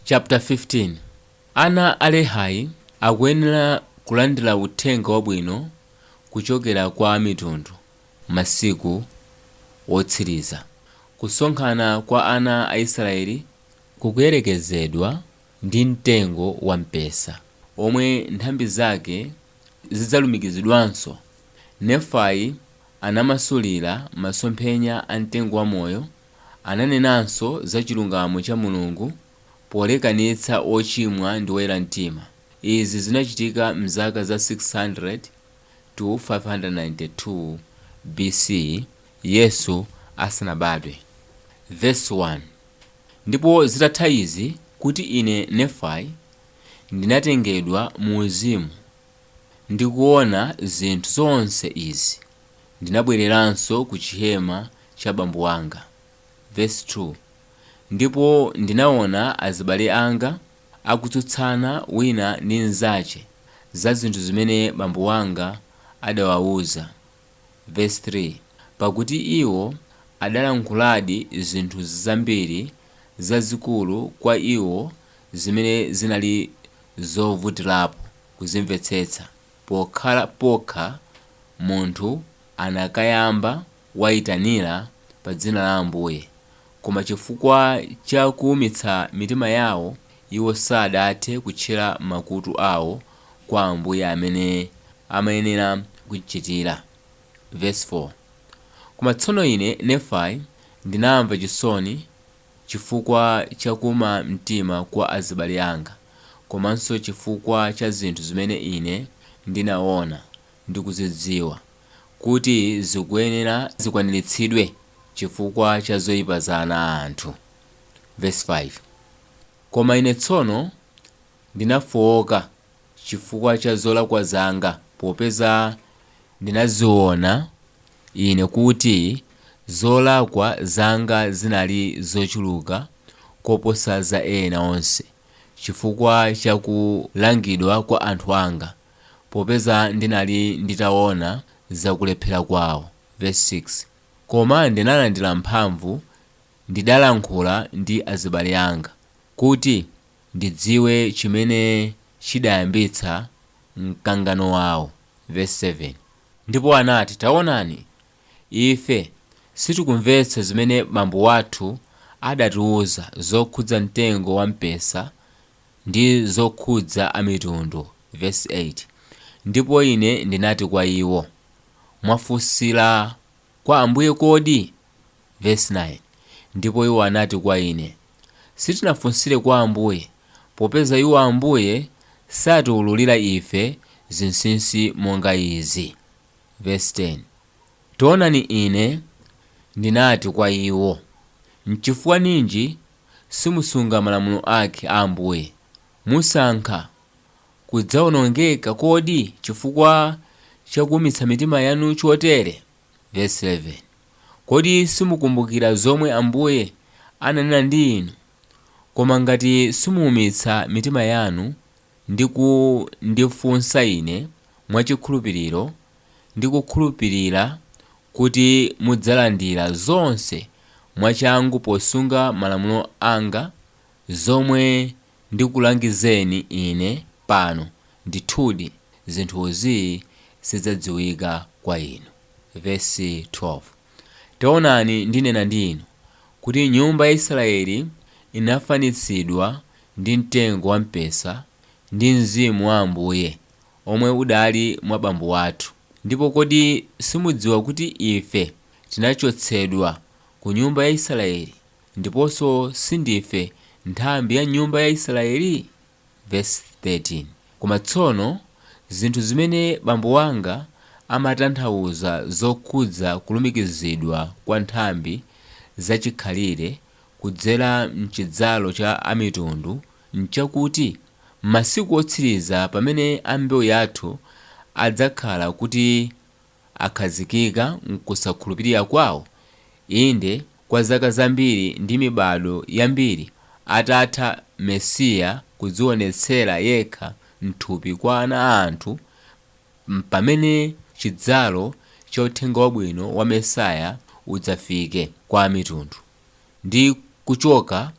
Chapter 15, Ana a Lehi akuyenera kulandira uthenga wabwino kuchokera kwa Amitundu masiku otsiriza. Kusonkhana kwa ana a Israeli kukuyerekezedwa ndi mtengo wa mpesa womwe nthambi zake zidzalumikizidwanso. Nefai anamasulira masomphenya a mtengo wa moyo Ananenanso za chilungamo cha Mulungu polekanitsa ochimwa ndi oyera mtima. Izi zinachitika m'zaka za 600 to 592 BC Yesu asanabadwe. Vesi 1, Ndipo zitatha izi, kuti ine, Nefai, ndinatengedwa mu uzimu, ndi kuona zinthu zonse izi. ndinabwereranso ku chihema cha bambo wanga, vesi 2, ndipo ndinaona azibale anga akutsutsana wina ndi mzache za zinthu zimene bambo wanga adawauza, vesi 3, pakuti iwo adalankhuladi zinthu zambiri zazikulu kwa iwo zimene zinali zovutirapo kuzimvetsetsa. pokhala pokha munthu anakayamba waitanira pa dzina la Ambuye, koma chifukwa cha kuumitsa mitima yawo iwo sadathe kutchera makutu awo kwa Ambuye mmene amayenera kuchichitira. Vesi 4, Koma tsono ine, Nefai, ndinamva chisoni Chifukwa cha kuuma mtima kwa azibale anga komanso chifukwa cha zinthu zimene ine ndinaona ndi kuzidziwa kuti zikuyenera zikwaniritsidwe chifukwa cha zoipa za ana a anthu. Vesi 5, Koma ine tsono. Ndinafooka chifukwa cha zolakwa zanga, popeza ndinaziona ine kuti zolakwa zanga zinali zochuluka koposa za ena onse, chifukwa cha kulangidwa kwa anthu anga, popeza ndinali nditaona za kulephera kwao. Vesi 6, Koma ndinalandira mphamvu, ndidalankhula ndi azibale anga, kuti. Ndidziwe chimene chidayambitsa mkangano wao, vesi 7. Ndipo anati, Taonani, ife sitikumvetsa zimene bambo wathu adatiuza zokhudza mtengo wa mpesa ndi zokhudza Amitundu, vesi 8, Ndipo ine ndinati kwa iwo, Mwafunsira. Kwa Ambuye kodi? Vesi 9, Ndipo iwo anati kwa ine, Sitinafunsire kwa Ambuye, popeza iwo, Ambuye, satiululira ife zinsinsi monga izi. Vesi 10, Taonani ine ndinati kwa iwo, N'chifukwa ninji simusunga malamulo ake a Ambuye? Musankha! kudzaonongeka kodi chifukwa cha kuumitsa mitima yanu chotere? Vesi 11, Kodi simukumbukira zomwe Ambuye ananena ndi inu? Koma ngati simuumitsa mitima yanu ndi kundifunsa Ine mwa chikhulupiriro, ndi kukhulupirira kuti mudzalandira zonse mwachangu posunga malamulo anga, zomwe. ndikulangizeni ine pano, ndithudi zinthu izi zidzadziwika kwa inu. Vesi 12 Taonani ndinena ndi inu, kuti nyumba ya Israyeli inafanitsidwa ndi mtengo wa mpesa ndi Mzimu wa Ambuye, omwe udali mwa bambo wathu, ndipo kodi simudziwa kuti ife tinachotsedwa ku nyumba ya Israyeli? Ndiponso si ndife nthambi ya nyumba ya Isiraeli? Vesi 13, Koma tsono, zinthu zimene bambo wanga amatanthauza zokhudza kulumikizidwa kwa nthambi zachikhalire kudzera m'chidzalo cha amitundu n'chakuti, m'masiku otsiriza pamene a mbewu yathu adzakhala kuti akhazikika m'kusakhulupirira kwawo, inde, kwa zaka zambiri ndi mibadwo yambiri atatha Mesiya kudziwonetsera yekha m'thupi kwa ana a anthu, mpamene chidzalo cha uthenga wabwino wa Mesiya udzafike kwa amitundu, ndi kuchoka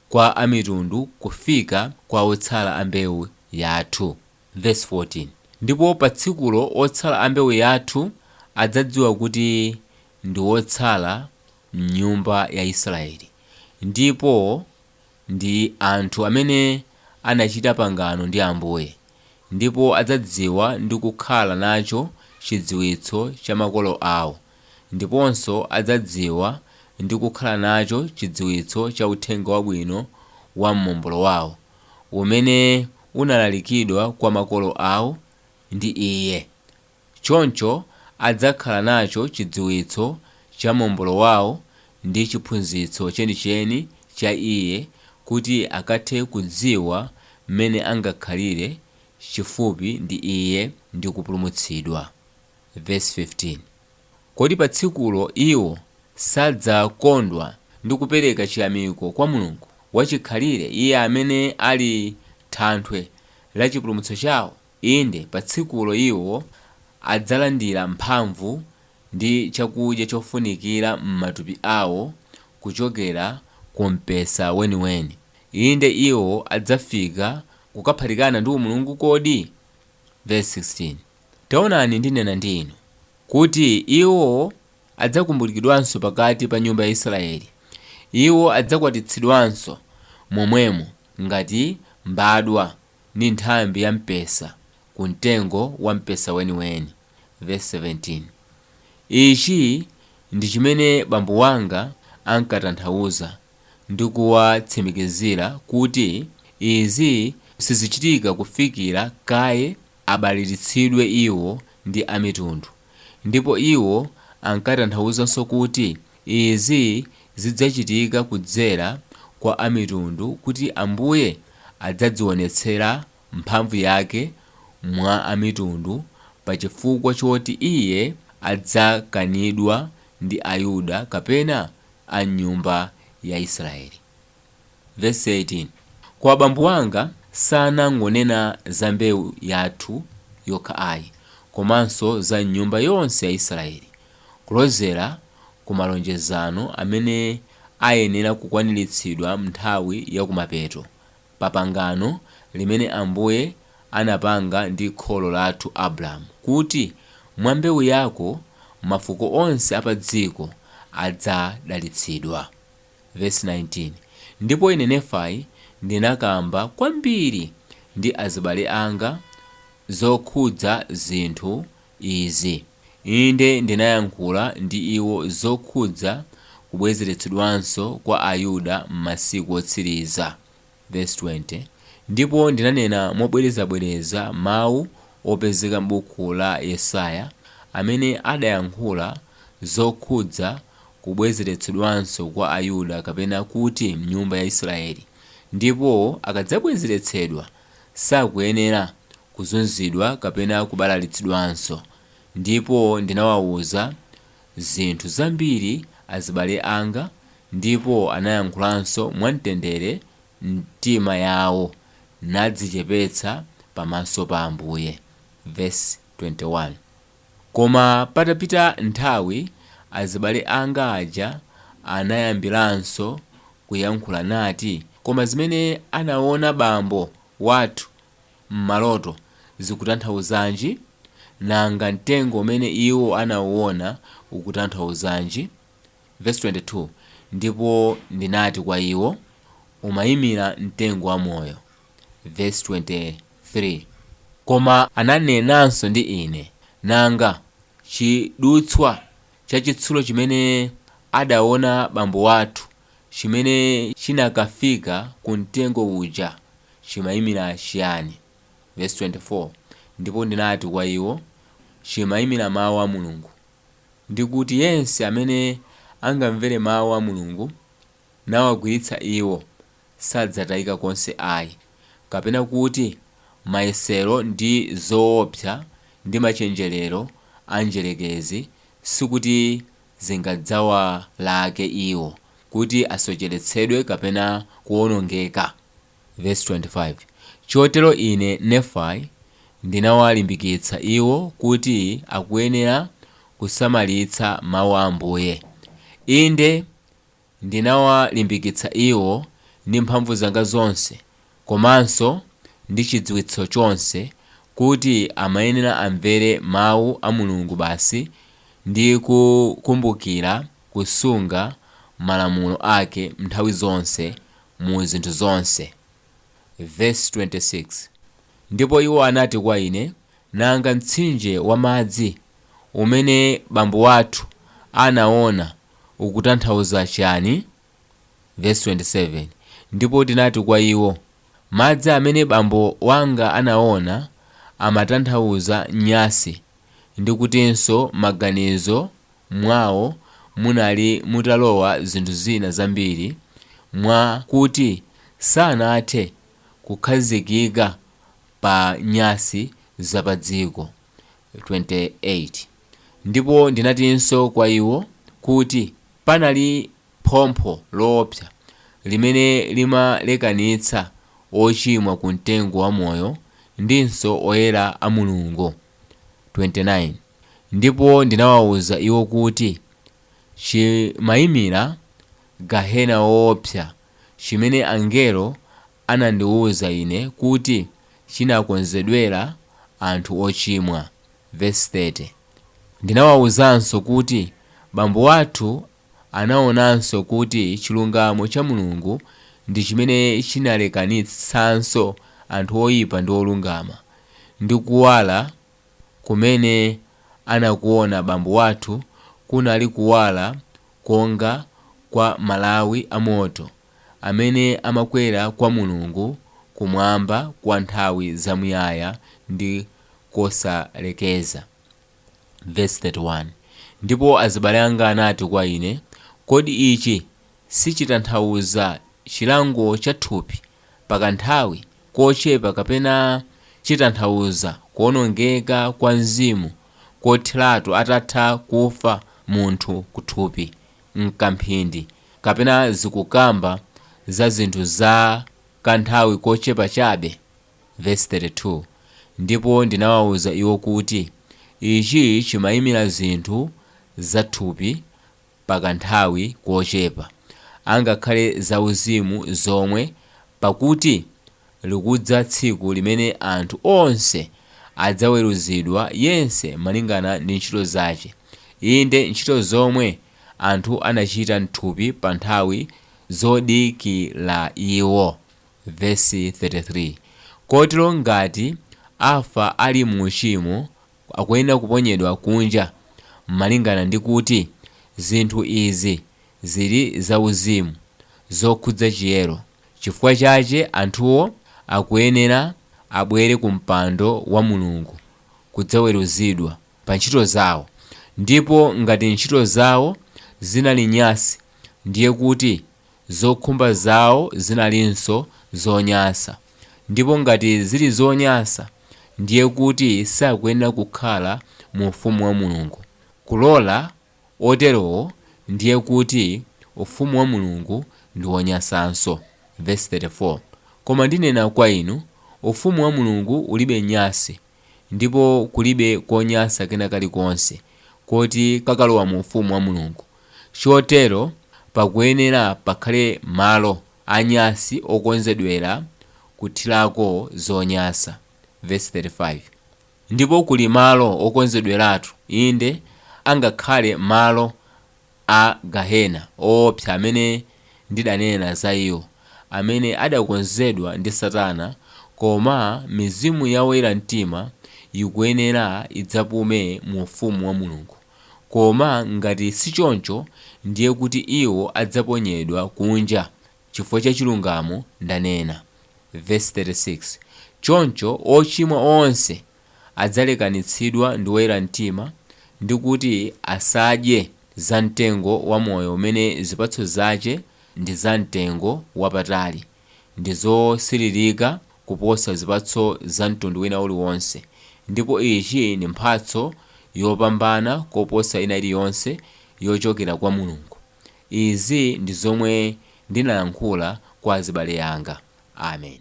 kwa amitundu kufika kwa otsala a mbewu yathu. Vesi 14, Ndipo pa tsikulo otsala a mbewu yathu adzadziwa kuti ndi otsala m'nyumba ya Israeli, ndipo ndi anthu amene anachita pangano ndi Ambuye, ndipo adzadziwa ndi kukhala nacho chidziwitso cha makolo awo, ndiponso adzadziwa ndi kukhala nacho chidziwitso cha uthenga wabwino wa Momboli wawo. umene unalalikidwa kwa makolo awo ndi Iye, choncho adzakhala nacho chidziwitso cha Momboli wawo ndi chiphunzitso chenicheni cha Iye kuti akathe kudziwa m'mene angakhalire chifupi ndi Iye ndi kupulumutsidwa. Vesi 15. Kodi pa tsikulo iwo sadzakondwa ndi kupereka chiyamiko kwa Mulungu wachikhalire, Iye amene ali Thanthwe la chipulumutso chawo? Inde, pa tsikulo iwo adzalandira mphamvu ndi chakudya chofunikira m'matupi awo kuchokera ku mpesa weniweni. Inde, iwo adzafika kukaphatikana ndi Mulungu. Kodi? Vesi 16. Taonani, ndinena ndi inu, kuti iwo adzakumbulikidwanso pakati pa nyumba ya Israeli, iwo adzakwatitsidwanso momwemo ngati mbadwa ndi nthambi ya mpesa ku mtengo wa mpesa weniweni. Vesi 17, Ichi ndi chimene bambo wanga ankatanthauza ndi kuwatsimikizira kuti izi sizichitika kufikira kaye abalalitsidwe iwo ndi Amitundu. Ndipo iwo ankatanthauzanso kuti izi zidzachitika kudzera kwa Amitundu kuti Ambuye adzadziwonetsera Mphamvu Yake mwa Amitundu pa chifukwa choti Iye adzakanidwa ndi Ayuda kapena a mnyumba ya Israeli. Vesi 18, Kwa bambo wanga sanangonena za mbewu yathu yokha ayi, komanso za m'nyumba yonse ya Israeli, kulozera ku malonjezano amene ayenera kukwaniritsidwa m'nthawi ya kumapeto, pa pangano limene Ambuye anapanga ndi kholo lathu Abulahamu kuti, Mwa mbewu yako mafuko onse a padziko adzadalitsidwa. Vesi 19, Ndipo ine, Nefai, ndinakamba kwambiri ndi azibale anga zokhudza zinthu izi, inde ndinayankhula ndi iwo zokhudza kubwezeretsedwanso kwa Ayuda m'masiku otsiriza, Vesi 20, Ndipo ndinanena mobwerezabwereza mawu opezeka m'buku la Yesaya amene adayankhula zokhudza kubwezeretsedwanso kwa Ayuda kapena kuti mnyumba ya Israeli, ndipo akadzabwezeretsedwa sakuyenera kuzunzidwa kapena kubalalitsidwanso, ndipo ndinawauza zinthu zambiri azibale anga ndipo anayankhulanso mwamtendere m'mitima yawo nadzichepetsa pamaso pa Ambuye, vesi 21. Koma patapita nthawi azibale anga aja anayambiranso kuyankhula nati koma zimene anaona bambo wathu mmaloto zikutanthauzanji? Nanga mtengo umene iwo anawuona ukutanthauzanji? Vesi 22, Ndipo ndinati kwa iwo, Umaimira mtengo wa moyo. Vesi 23, Koma ananenanso ndi ine, Nanga chidutswa chachitsulo chimene adaona bambo wathu chimene chinakafika ku mtengo uja chimaimira chiyani? Vesi 24, Ndipo ndinati kwa iwo, Chimaimira mau a Mulungu, ndi kuti yense amene angamvere mau a Mulungu nawagwiritsa iwo, sadzatayika konse ayi, kapena kuti mayesero ndi zoopsa ndi machenjerero a mdyerekezi sikuti zingadzawalake iwo kuti asocheretsedwe kapena kuwonongeka. Vesi 25, Chotero ine, Nefai, ndinawalimbikitsa iwo kuti akuyenera kusamalitsa mawu a Ambuye, inde, Ndinawalimbikitsa iwo ndi mphamvu zanga zonse komanso ndi chidziwitso chonse kuti amayenera amvere Mawu a Mulungu basi ndi kukumbukira kusunga malamulo ake nthawi zonse mu zinthu zonse. Vesi 26, Ndipo iwo anati kwa ine, Nanga mtsinje wa madzi umene bambo wathu anaona ukutanthauza chiani? Vesi 27, Ndipo ndinati kwa iwo, Madzi amene bambo wanga anaona amatanthauza nyasi, ndi kutinso m'maganizo mwawo munali mutalowa zinthu zina zambiri mwa kuti sanathe kukhazikika pa nyasi za padziko. 28 ndipo ndinatinso kwa iwo, kuti panali phompho loopsa limene limalekanitsa ochimwa ku mtengo wa moyo ndinso oyera a Mulungu, 29 ndipo ndinawauza iwo kuti chimaimira gahena woopsa, chimene angelo anandiuza ine kuti chinakonzedwera anthu ochimwa, vesi 30. Ndinawauzanso kuti bambo wathu anaonanso kuti chilungamo cha Mulungu ndi chimene chinalekanitsanso anthu oipa ndi olungama, ndi kuwala kumene anakuona bambo wathu kunali kuwala konga kwa malawi a moto. amene amakwera kwa Mulungu kumwamba kwa nthawi zamuyaya ndi kosalekeza. Vesi 31, Ndipo azibale anga anati kwa ine, Kodi ichi sichitanthauza chilango cha thupi pa kanthawi kochepa kapena chitanthauza kuonongeka kwa mzimu kotheratu atatha kufa munthu kuthupi? m'kamphindi kapena zikukamba za zinthu za kanthawi kochepa chabe? Vesi 32, Ndipo ndinawauza iwo kuti ichi chimaimira zinthu za thupi pa kanthawi kochepa, angakhale za uzimu zomwe, pakuti likudza tsiku limene anthu onse adzaweruzidwa yense malingana ndi ntchito zache, inde, ntchito zomwe anthu anachita m'thupi pa nthawi zodikira iwo, vesi 33, kotero ngati afa ali mu uchimo akuyenera kuponyedwa kunja malingana ndi kuti zinthu izi ziri za uzimu zokhudza chiyero. Chifukwa chache anthuwo akuyenera abwere ku mpando wa Mulungu kudzaweruzidwa pa ntchito zao, ndipo ngati ntchito zao zinali nyansi, ndiye kuti zokhumba zao zinalinso zonyansa, ndipo ngati ziri zonyansa, ndiye kuti sakuyenera kukhala mu Ufumu wa Mulungu. Kulola oterowo, ndiye kuti ufumu wa Mulungu ndi wonyansanso. Vesi 34, Koma ndinena kwa inu, Ufumu wa Mulungu ulibe nyansi, ndipo kulibe konyansa kena kalikonse koti kakalowa mu ufumu wa Mulungu. Chotero pakuyenera pakhale malo anyansi okonzedwera kuthirako zonyansa. Vesi 35. Ndipo kuli malo okonzedweratu, inde, angakhale malo a gahena oopsa amene ndidanena za iwo, amene adakonzedwa ndi Satana, koma mizimu ya oyera mtima ikuyenera idzapume mu ufumu wa Mulungu, koma ngati sichoncho, ndiye kuti iwo adzaponyedwa kunja Chifukwa cha chilungamo ndanena. Vesi 36, Choncho ochimwa onse adzalekanitsidwa ndi oyera mtima ndi kuti asadye za mtengo wa moyo umene zipatso zache ndi za mtengo wapatali ndi zosiririka kuposa zipatso za mtundu wina uliwonse ndipo ichi ndi mphatso yopambana koposa ina iliyonse yochokera kwa Mulungu. Izi ndi zomwe ndinalankhula kwa azibale anga. Amen.